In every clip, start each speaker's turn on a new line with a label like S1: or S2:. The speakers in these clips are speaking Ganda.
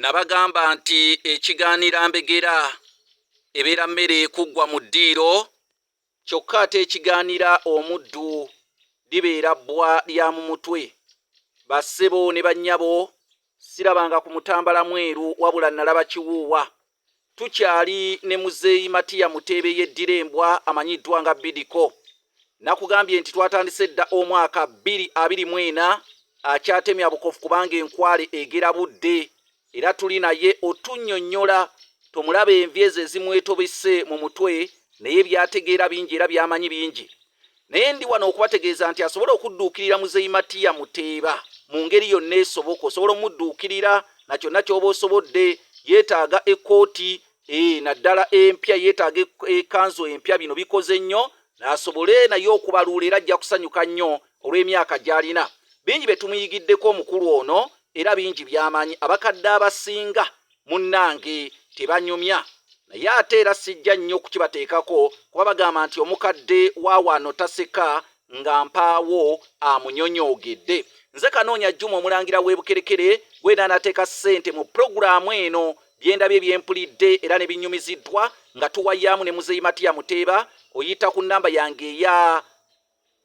S1: nabagamba nti ekigaanira mbegera ebeera mmere ekuggwa mu ddiiro kyokka ate ekigaanira omuddu libeera bbwa lya mu mutwe bassebo ne bannyabo sirabanga ku mutambala mweru wabula nalaba kiwuuwa Tukyali ne muzeeyi Matia Muteebe yeddira embwa amanyiddwa nga Bidiko. Nakugambye nti twatandise dda omwaka bbiri abiri mu ena akyatemya bukofu kubanga enkwale egera budde era tuli naye otunnyonnyola tomulaba envi ezo ezimwetobese mu mutwe naye byategeera bingi era byamanyi bingi. Naye ndi wano okubategeeza nti asobola okudduukirira Muzeeyi Matiya Muteeba mu ngeri yonna esoboka. Osobola omudduukirira na kyonna ky'oba osobodde. Yeetaaga ekkooti eh, naddala empya, yeetaaga ekanzu empya. Bino bikoze nnyo asobole naye okubaluula era ajja kusanyuka nnyo olw'emyaka gy'alina. Bingi bye tumuyigiddeko omukulu ono era bingi by'amanyi. Abakadde abasinga Munnange tebanyumya naye ate era sijja nnyo kukibateekako kuba bagamba nti omukadde wa wano taseka nga mpaawo amunyonyoogedde. Nze Kanoonya Juma Omulangira w'e Bukerekere gw'eno anateeka ssente mu pulogulaamu eno. Bye ndabye bye mpulidde era ne binnyumiziddwa nga tuwayaamu ne Muzeeyi Matiya Muteeba oyita ku nnamba yange eya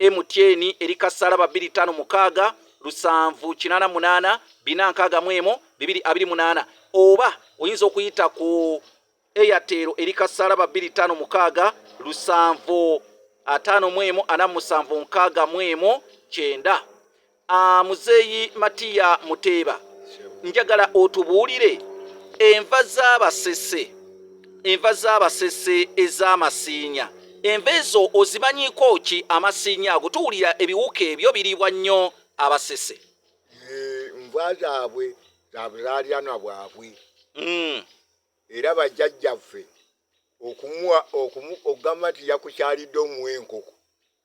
S1: MTN eri ka ssalaba bbiri ttaano mukaaga lusanvu kinaana munaana bina nkaaga mu emu bibiri abiri munaana oba oyinza okuyita ku eyateero eri ka ssalaba bbiri ttaano mukaaga lusanvu ataano mu emu ana musanvu nkaaga mu emu kyenda Ah, muzeeyi Matiya Muteeba, njagala otubuulire enva z'abasese, enva z'abasese ez'amasiinya. Enva ezo ozimanyiiko ki amasiinya ago? Tuwulira ebiwuka ebyo biriibwa nnyo abasese. Enva
S2: zaabwe za buzaalyanwa bwabwe. Hmm. Era bajjajjaffe okumuwa okugamba nti yakukyalidde omuwa enkoko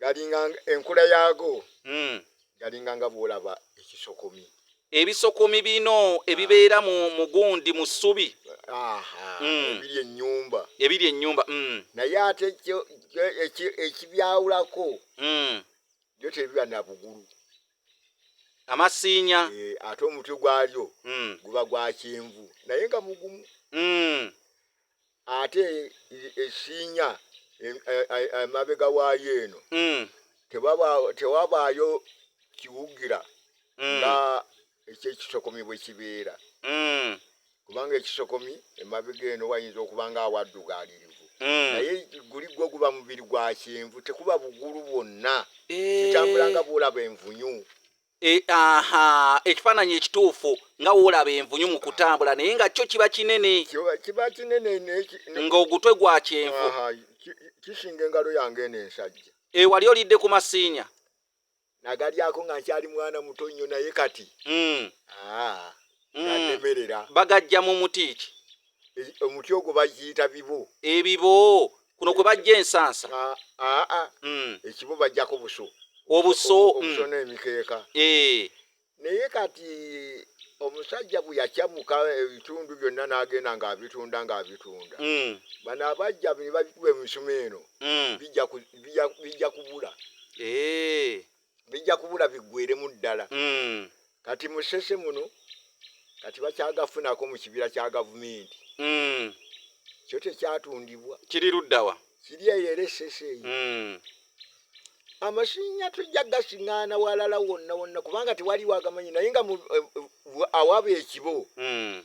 S1: galinga
S2: enkula yaago hmm. galinga nga bwolaba ekisokomi ebisokomi
S1: bino ebibeera mu mugundi mu ssubi hmm. ebiri ennyumba ebiri ennyumba hmm. naye ate
S2: ekibyawulako byo tebiba na bugulu amasiinya
S1: eh, ate omutwe gwalyo
S2: guba gwa kyenvu naye nga mugumu ate ekinya emabega waayo eno mm. tewabaayo kiwugira mm. nga ekyekisokomi bwe kibeera mm. kubanga ekisokomi emabega eno wayinza okuba nga awaddugaalirivu naye guli gwo guba mubiri gwa kyenvu tekuba bugulu bwonna eh. kitambula nga bwolaba envunyu E, aha
S1: ekifaananyi ekituufu nga woolaba envunyu mu kutambula naye nga kyo kiba kinene kiba kinene
S2: ng'ogutwe
S1: gwa kyenvu kisinga
S2: engalo yange eno ensajja ewali olidde ku
S1: masiinya nagalyako
S2: nga nkyali mwana muto nnyo naye kati hmm. ah, hmm. ganemerera bagajja mu muti
S1: ki omuti ogwo
S2: bagiyita bibo ebibo
S1: kuno kwe bajja ensansa aa ah, ah, ah. hmm.
S2: ekibo bajjako buso obuso hmm.
S1: obuso n'emikeeka
S2: eh. naye kati omusajja bwe yakyamuka ebitundu byonna n'agenda ng'abitunda ng'abitunda hmm. bano abajja ne babikuba emisuma eno bijja kubula eh. bijja kubula biggweremu ddala mm. kati musese muno kati bakyagafunako mu kibira kya gavumenti mm. kyo tekyatundibwa kiri luddawa
S1: kiri eyo era esese
S2: eyo mm. amasinya tujja gasiŋŋaana walala wonna wonna kubanga tewaliwo agamanyi naye nga eh, eh, awaba ekibo mm.